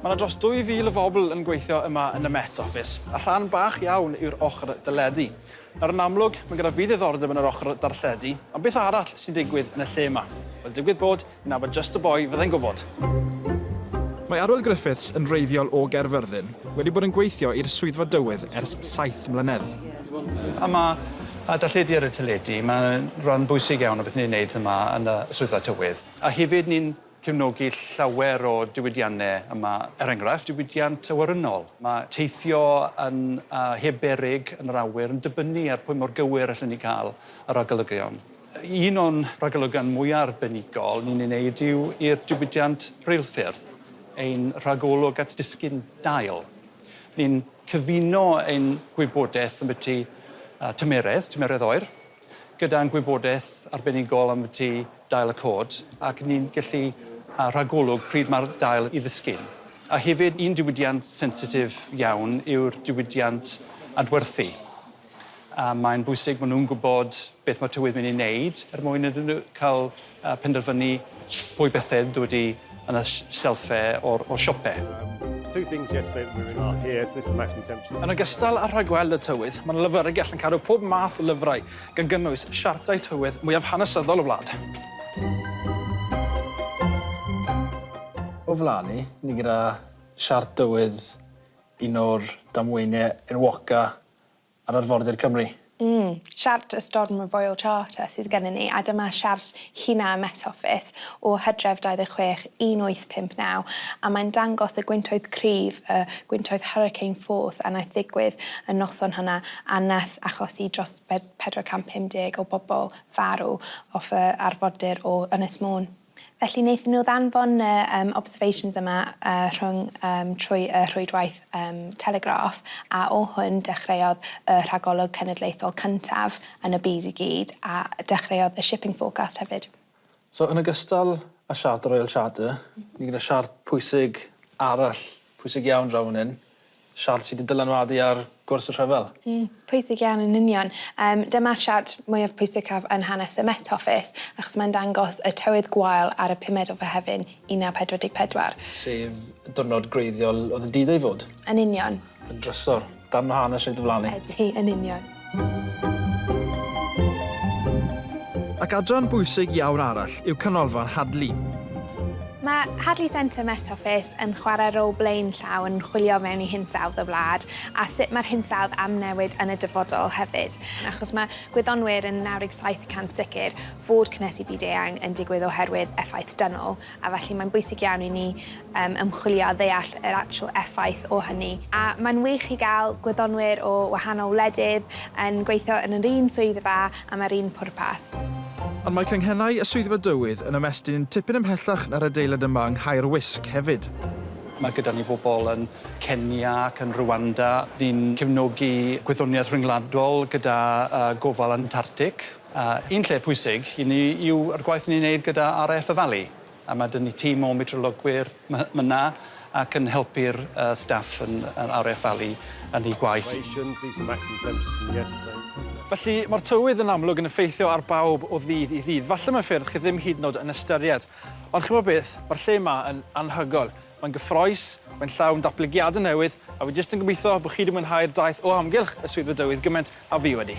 Mae yna dros 2,000 o fobl yn gweithio yma yn y Met Office, a rhan bach iawn yw'r ochr deledu. Nawr yn amlwg, mae gyda fi ddiddordeb yn yr ochr darlledu, ond beth arall sy'n digwydd yn y lle yma? Wel, digwydd bod, fi'n nabod just y boi fyddai'n gwybod. Mae Arwel Griffiths yn wreiddiol o Gaerfyrddin, wedi bod yn gweithio i'r Swyddfa Dywydd ers saith mlynedd. A mae darlledu ar y teledu, mae'n rhan bwysig iawn o beth ni'n wneud yma yn y Swyddfa Tywydd. A hefyd ni'n cefnogi llawer o diwydiannau yma, er enghraifft, diwydiant awyrennol. Mae teithio yn heb beryg yn yr awyr yn dibynnu ar pwy mor gywir allen ni cael y ragolygon. Un o'n ragolygon mwya' arbenigol ni'n ei wneud yw i'r diwydiant reilffyrdd, ein rhagolwg at disgyn dail. Ni'n cyfuno ein gwybodaeth ambyti tymeredd, tymeredd oer, gyda'n gwybodaeth arbenigol ambyti dail y cod, ac ni'n gallu rhagolwg pryd mae'r dail i ddisgyn. A hefyd, un diwydiant sensitif iawn yw'r diwydiant adwerthu. A mae'n bwysig bod nhw'n gwybod beth mae tywydd mynd i wneud er mwyn iddyn nhw cael uh, penderfynu pwy bethau ydw wedi yn y selfau o'r, or siopau. two things yesterday that we really are here, so this is the maximum temperature. Yn ogystal â rhagweld y tywydd, mae'n lyfrgell yn cadw pob math o lyfrau, gan gynnwys siartau tywydd mwyaf hanesyddol y wlad. O flaen ni, ni gyda siart dywydd un o'r damweiniau enwoca ar arfordir Cymru. Mm, siart y storm y Royal Charter sydd gennym ni, a dyma siart China Met Office o Hydref 26, 1859, a mae'n dangos y gwyntoedd cryf, y gwyntoedd hurricane force, a wnaeth ddigwydd y noson hwnna, a wnaeth achosi dros 450 o bobl farw off y arfordir o Ynys Môn. Felly wnaethon nhw ddanfon y um, observations yma uh, rhwng, um, trwy y rhwydwaith um, Telegraph a o hwn dechreuodd y rhagolwg cenedlaethol cyntaf yn y byd i gyd a dechreuodd y shipping forecast hefyd. So yn ogystal â siart y Royal Charter, ni gyda siart pwysig arall, pwysig iawn draw fan hyn, Siart sy 'di dylanwadu ar gwrs y rhyfel. Mm, pwysig iawn yn union. Yym, dyma'r siart mwyaf pwysicaf yn hanes y Met Office, achos mae'n dangos y tywydd gwael ar y pumed o Fehefin 1944. Sef y diwrnod gwreiddiol oedd yn did ei fod. Yn union. Yn drysor, darn o hanes reit ddiflannu. Ydi, yn union. Ac adran bwysig iawn arall yw Canolfan Hadley. Mae Hadley Centre Met Office yn chwarae rôl blaenllaw yn chwilio mewn i hinsawdd y wlad a sut mae'r hinsawdd am newid yn y dyfodol hefyd, achos mae gwyddonwyr yn 97 y cant sicr fod cynhesu byd eang yn digwydd oherwydd effaith dynol, a felly mae'n bwysig iawn i ni ymchwilio a ddeall yr actual effaith o hynny. A mae'n wych i gael gwyddonwyr o wahanol wledydd yn gweithio yn yr un swyddfa am yr un pwrpas. Ond mae canghennau y Swyddfa Dywydd yn ymestyn tipyn ymhellach na'r adeilad yma yng Nghae'r Wisg hefyd. Mae gyda ni bobl yn Kenya ac yn Rwanda. Ni'n cefnogi gwyddoniaeth ryngwladol gyda gofal Antartic. A un lle pwysig i ni yw yr gwaith ni'n neud gyda RAF y Fali a ma' 'dy ni tîm o metrolygwyr my- my' 'na ac yn helpu'r yy staff yn yy Are Eff Valley yn eu gwaith. Felly, ma'r tywydd yn amlwg yn effeithio ar bawb o ddydd i ddydd. Falle mewn ffyrdd chi ddim hyd yn o'd yn ystyried. Ond chi'mo' beth, ma'r lle 'ma yn anhygoel. Mae'n gyffrous, mae'n llawn datblygiadau newydd, a fi jyst yn gobeithio bod chi 'di mwynhau'r daith o amgylch y Swyddfa Dywydd gymaint a fi wedi.